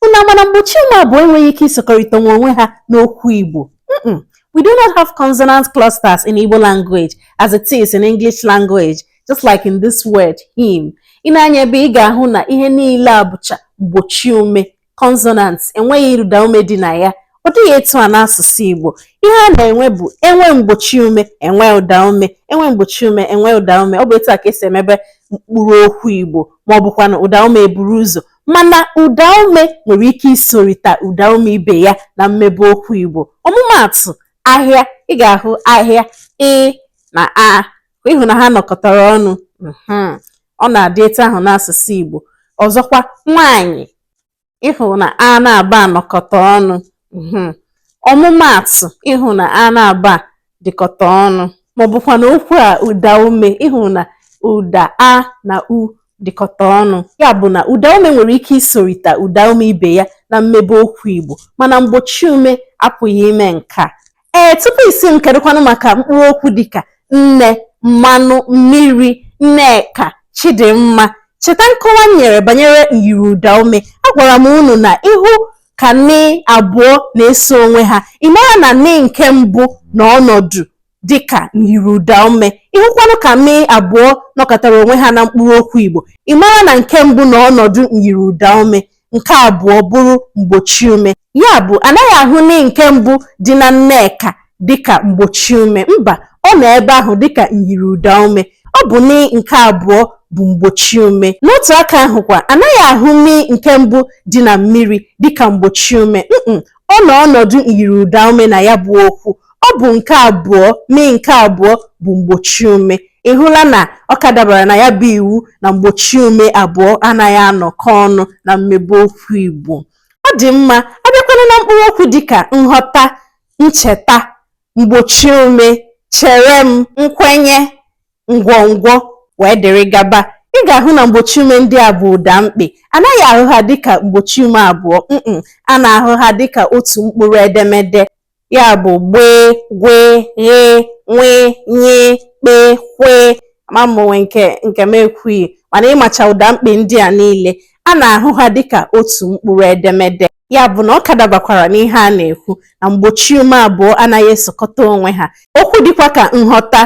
Unu ama na mgbochi ume abụọ enweghị ike isokọrịta nwe onwe ha n'okwu Igbo mm we do not have consonant clusters in Igbo language as it is in English language just like in this word hymn i lee anya ebe ị ga-ahụ na ihe niile a bụcha mgbochi ume consonant enweghị ụda ume dị na ya ọ dịghị etu a n'asụsụ Igbo ihe a na-enwe bụ e nwee mgbochi ume e nwee ụda ume e nwee mgbochi ume e nwee ụda ume ọ bụ etu a ka e si emebe mkpụrụ okwu Igbo ma ọ bụkwanụ ụda ume eburu ụzọ mana ụdaume nwere ike isorita ụdaume ibe ya na mmebe okwu Igbo. Ọmụmaatụ, ahịa, ị ga-ahụ ahịa, ị na a, ị hụ na ha nọkọtara ọnụ. Hmm. Ọ na-adị etu ahụ n'asụsụ Igbo. Ọzọkwa, nwaanyị, ị hụ na a na a bịa nọkọta ọnụ. Hmm. Ọmụmaatụ, ị hụ na a na a bịa dịkọta ọnụ ma ọ bụkwanụ okwu a ụda ume ị hụ na ụda a na u dịkọta ọnụ ya bụ na ụda ume nwere ike isorita ụda ume ibe ya na mmebe okwu Igbo mana mgbochi ume apụghị ime nke a ee tupu ị sị m kedụkwanụ maka mkpụrụ okwu dịka nne mmanụ mmiri Nneka Chidimma cheta nkọwa m nyere banyere myiri ụda ume agwara m unu na ị hụ ka nị abụọ na-eso onwe ha ị mara na nị nke mbụ nọ ọnọdụ dịka myiri ụda ume ị hụkwanụ ka nị abụọ nọkọtara onwe ha na mkpụrụ okwu Igbo ị mara na nke mbụ nọ ọnọdụ myiri ụda ume nke abụọ bụrụ mgbochi ume ya bụ a naghị ahụ nị nke mbụ dị na Nneka dịka mgbochi ume mba ọ nọ ebe ahụ dịka myiri ụda ume ọ bụ nị nke abụọ bụ mgbochi ume n'otu aka ahụ kwa a naghị ahụ mi nke mbụ dị na mmiri dịka mgbochi ume mm ọ nọ ọnọdụ myiri ụda ume na ya bụ okwu ọ bụ nke abụọ mi nke abụọ bụ mgbochi ume ị hụla na ọ ka dabara na ya bụ iwu na mgbochi ume abụọ anaghị anọkọ ọnụ na mmebe okwu Igbo ọ dị mma a bịakwanụ na mkpụrụ okwu dịka nghọta ncheta, mgbochi ume, chere m, nkwenye, ngwongwo wee dịrị gaba. Ị ga-ahụ na mgbochi ume ndị a bụ ụda mkpị. A naghị ahụ ha dịka mgbochi ume abụọ, mm a na-ahụ ha dịka otu mkpụrụ edemede, ya bụ gbee, gwee, ghee, nwee, nyee, kpee, kwee. Ama m o nwee nke m ekwughị, mana ị macha ụda mkpị ndị a niile, a na-ahụ ha dịka otu mkpụrụ edemede. ya bụ na ọ ka dabakwara n'ihe a na-ekwu na mgbochi ume abụọ anaghị esokọta onwe ha okwu dịkwa ka nghọta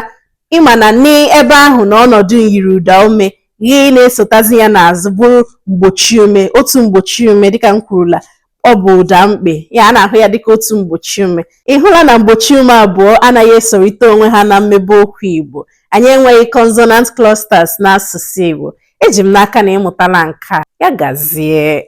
ị ma na n'ebe ahụ na ọnọdụ myiri ụda ume ihe na-esotazi ya n'azụ bụrụ mgbochi ume otu mgbochi ume dịka m kwurula ọ bụ ụda mkpị ya a na-ahụ ya dịka otu mgbochi ume ị hụla na mgbochi ume abụọ anaghị esorịta onwe ha na mmebe okwu Igbo anyị enweghị consonant clusters n'asụsụ Igbo eji m n'aka na ị mụtala nke a ya gazie